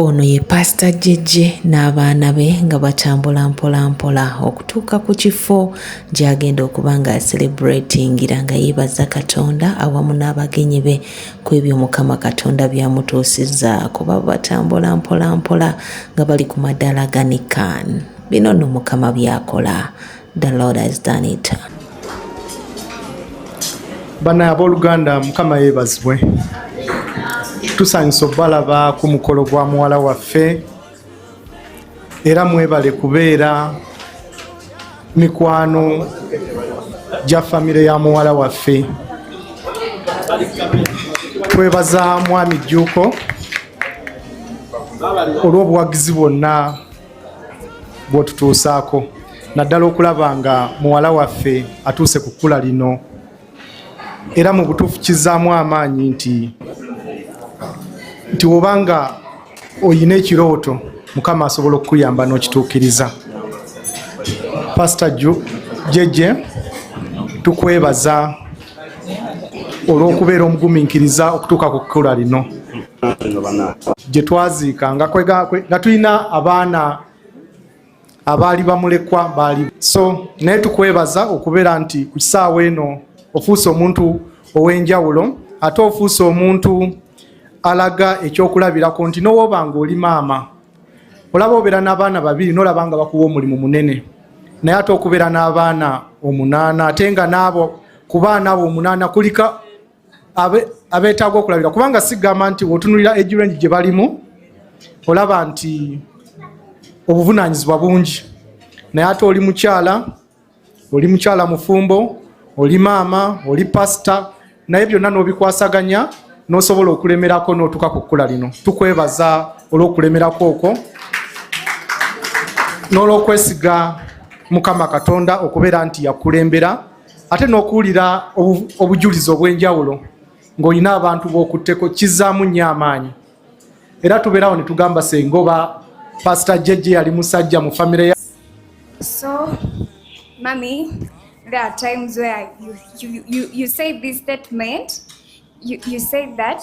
ono ye paasita jjejje n'abaana be nga batambula mpolampola okutuuka ku kifo gy'agenda okuba nga celebratingira nga yeebaza katonda awamu n'abagenyi be ku ebyo mukama katonda byamutuusizza kuba batambula mpolampola nga bali ku madaala ganikan bino nno mukama byakola the lord has done it bana abooluganda mukama yeebazibwe tusanyusa obalaba ku mukolo gwa muwala waffe era mwebale kubeera mikwano gya famire ya muwala waffe twebaza mwami jjuuko olw'obuwagizi bwonna bwotutuusaako naddala okulaba nga muwala waffe atuuse ku kkula lino era mu butuufu kizzaamu amaanyi nti nti woba nga oyina ekirooto mukama asobola okukuyamba n'okituukiriza pasita jeje tukwebaza olw'okubeera omugumiikiriza okutuuka ku kkula lino gye twaziika nga tulina abaana abaali bamulekwa baali so naye tukwebaza okubeera nti ku kisaawa eno ofuuse omuntu ow'enjawulo ate ofuuse omuntu alaga ekyokulabirako nti nowoba nga oli maama olaba obeera n'abaana babiri nolaba nga bakuwa omulimu munene naye ate okubeera n'abaana omunaana ate nga naabo ku baana abo omunaana kulika abeetaaga okulabira kubanga sigamba nti wotunulira egirengi gye balimu olaba nti obuvunaanyizibwa bungi naye ate oli mukyala oli mukyala mufumbo oli maama oli pasita naye byonna n'obikwasaganya n'osobola okulemerako n'otuuka ku kkula lino tukwebaza olw'okulemerako okwo n'olw'okwesiga mukama katonda okubeera nti yakulembera ate n'okuwulira obujulizi obw'enjawulo ng'olina abantu b'okutteko kizzaamu nnyo amaanyi era tubeerawo ne tugamba sengoba pasita jejje yali musajja mu famire ya so mami there are times where you, you, you, you say this statement you, you say that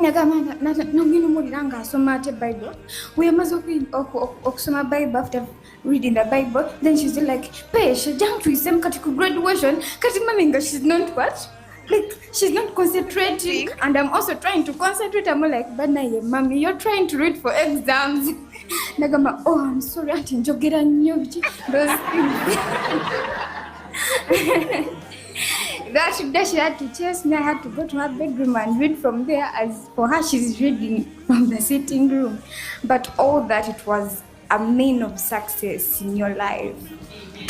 nagamba nangenda omuwulira nga asoma ate bible weyamaze okusoma bible after reading the bible then she's like pesha jantwisemu kati ku graduation kati mami nga she's not what like she's not concentrating and i'm also trying to concentrate i'm like but now your mommy you're trying to read for exams nagamba oh i'm sorry anti njogera nnyo biki those things That day she had to chase me. I had to go to her bedroom and read from there. As for her, she's reading from the sitting room. But all that it was a mean of success in your life.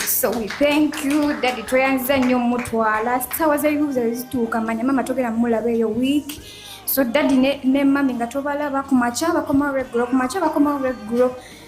So we thank you daddy tweyanziza nnyo mutwala sawa zayibuuza wezituuka manya mama togera mulaba eyo week so daddy ne, ne mami nga tobalaba kumakya bakomawo regulo kumakya bakomawo regulo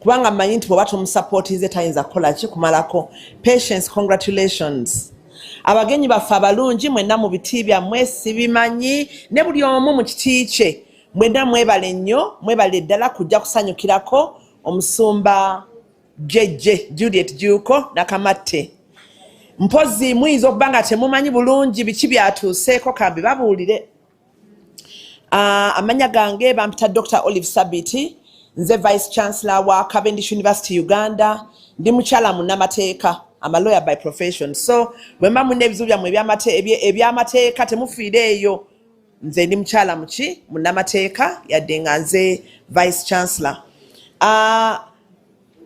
kubanga mmanyi nti bwoba tumusapootinze tayinza kukola ki kumalako patience congratulations abagenyi baffe abalungi mwenna mu biti byammwe sibimanyi ne buli omu mu kiti kye mwenna mwebale nnyo mwebale ddala kujja kusanyukirako omusumba jejje juliet juuko nakamatte mpozi muyinza okuba nga temumanyi bulungi biki byatuuseeko kambi babuulire Uh, amanya gange bampita Dr. Olive Sabiti nze Vice Chancellor wa Cavendish University Uganda ndi mukyala munnamateeka I'm a lawyer by profession so bwemba mulina ebizibu byammwe ebyamateeka temufiire eyo nze ndi mukyala muki munnamateeka yadde nga nze Vice Chancellor uh,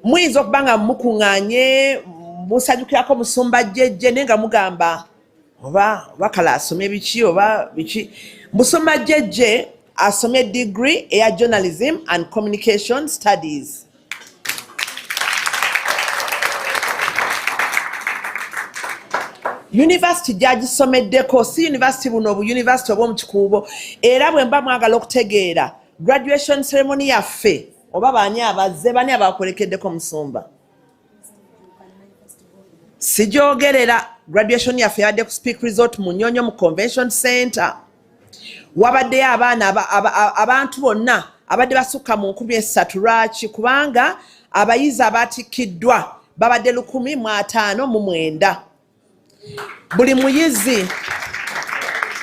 muyinza okuba nga mukuŋŋanye musanyukirako musumba jjejje naye nga mugamba oba bakala asome biki oba biki musoma jejje asome degree eya journalism and communication studies yunivasiti gyagisomeddeko si yunivasiti buno obuyunivasiti obwomu kikuubo era bwe mba mwagala okutegeera graduation ceremony yaffe oba baani abazze bani abakolekeddeko musumba sijogerera graduation yaffe yabadde ku speak resort mu nyonyo mu convention center wabaddeyo abaana abantu bonna abadde basukka mu nkumi essatu lwaki kubanga abayizi abatikkiddwa babadde lukumi mu ataano mu mwenda buli muyizi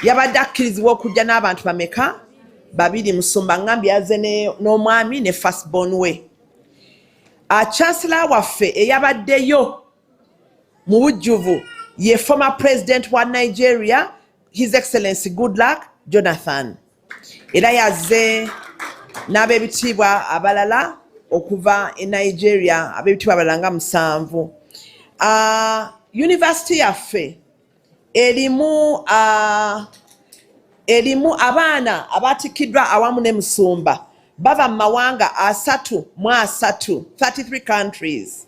yabadde akkirizibwa okujja n'abantu bameka babiri musumba ngambi yaze n'omwami ne fastbon we achansela ah, waffe eyabaddeyo mu bujjuvu ye former president wa nigeria his excellency good luck jonathan era yazze n'abebitiibwa abalala okuva e nigeria abebitiibwa abalala nga musanvu ah, yunivasite yaffe erimu ah, erimu abaana abatikkiddwa awamu ne musumba bava mu mawanga asatu mu asatu 33 countries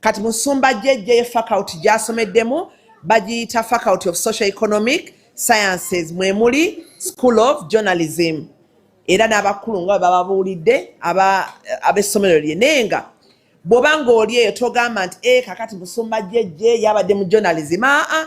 kati musumba jejje faculty gyasomeddemu bagiyita faculty of social economic sciences mwemuli school of journalism era n'abakulu nga bababuulidde ab'essomero lye naye nga bw'oba ng'oli eyo togamba nti e kakati musumba jejje yabadde mu journalism aa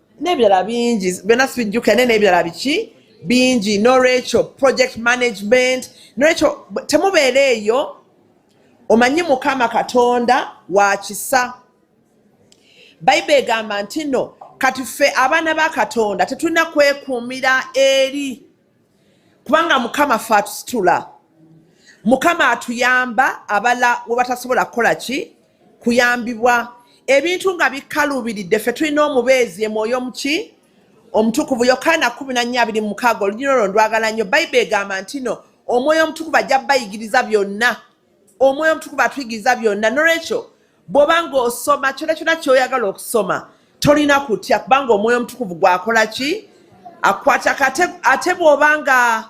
n'ebirala bingi byonna sibijjukira naye n'ebirala biki bingi n'olwekyo project management n'olwekyo temubeera eyo omanyi mukama katonda wa kisa bayibuli egamba nti no kati ffe abaana ba katonda tetulina kwekuumira eri kubanga mukama fe atusitula mukama atuyamba abala we batasobola kukola ki kuyambibwa ebintu nga bikaluubiridde fe tulina omubeezi emwoyo muki omutukuvu yokaana kumi na nnya abiri mukaaga olugina olwo ndwagala nnyo bayibuli egamba ntino omwoyo omutukuvu ajja bayigiriza byonna omwoyo omutukuvu atuyigiriza byonna nolwekyo bwoba nga osoma kyona kyona kyoyagala okusoma tolina kutya kubanga omwoyo omutukuvu gwakola ki akwata ate bwoba nga